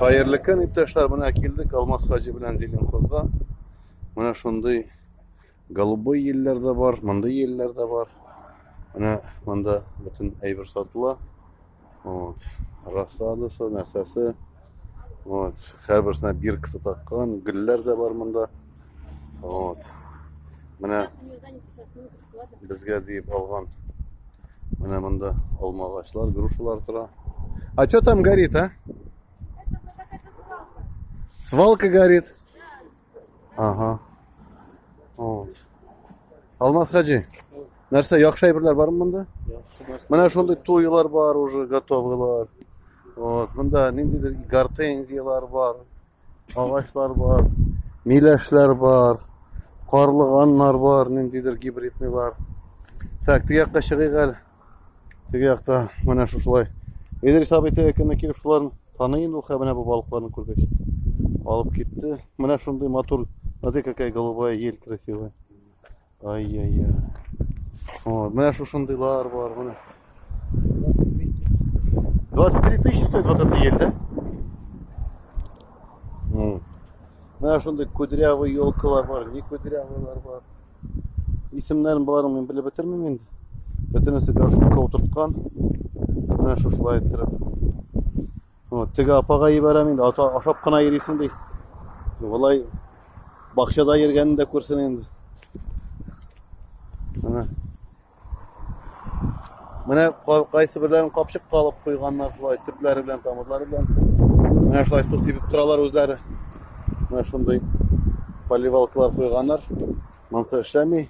Хәерле көн, иптәшләр, менә килдек Алмаз хаҗи белән Зеленхозга. Менә шундый голубой еллар да бар, мондый еллар да бар. Менә монда бөтен әйбер сатыла. Вот. Рассадасы, нәрсәсе. Вот. Һәрберсенә биркасы таккан, гөлләр дә бар монда. Вот. Менә Безгә диеп алган. Менә монда алма агачлар, грушалар тора. А что там горит, а? Свалка горит. Ага. Вот. Алмаз хаджи. Нәрсә, яхшы әйберләр бармы монда? Менә шундый туйлар бар уже готовыйлар. Вот, монда ниндидер гортензиялар бар. Агачлар бар, миләшләр бар, карлыганнар бар, ниндидер гибридныйлар. Так, теге якка чыгыйк әле. Теге якта менә шушылай. Идрис абый теге көнне килеп шуларны таный инде ул менә бу балыкларны күргәч. Алып китте. Менә шундый матур. Смотри, какая голубая ель красивая. Ай-яй-яй. Вот, менә шушындыйлар бар, менә. 23 тысячи стоит вот эта ель, да? Вот. Менә шундый кудрявый елкалар бар, не кудрявыйлар бар. Исемнәрен боларның мин белеп бетермим инде. Бөтенесе горшокка утырткан. Менә шушылай иттереп. Вот, теге апага ебәрәм инде, ата ашап кына йөрисең ди. Болай бакчада йөргәнен дә күрсен инде. Менә. Менә кайсы берләрен капчык калып куйганнар шулай төпләре белән, тамырлары белән. Менә шулай су сибеп торалар үзләре. Менә шундый поливалкалар куйганнар. Монсы эшләми.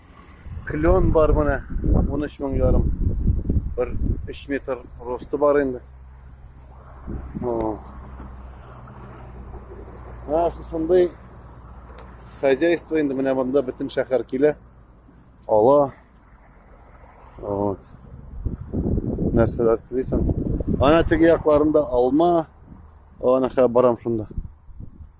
Клен бар менә 13 мең ярым. Бер 3 метр росты бар инде. Менә шушындый хозяйство инде менә монда бөтен шәһәр килә. Ала. Вот. Нәрсәләр телисең? Ана теге якларында алма. Ана хәбарам шунда.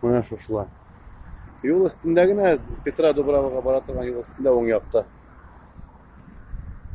Менә шушылай. Юл өстендә генә Петра Дубравага бара торган юл өстендә уң якта.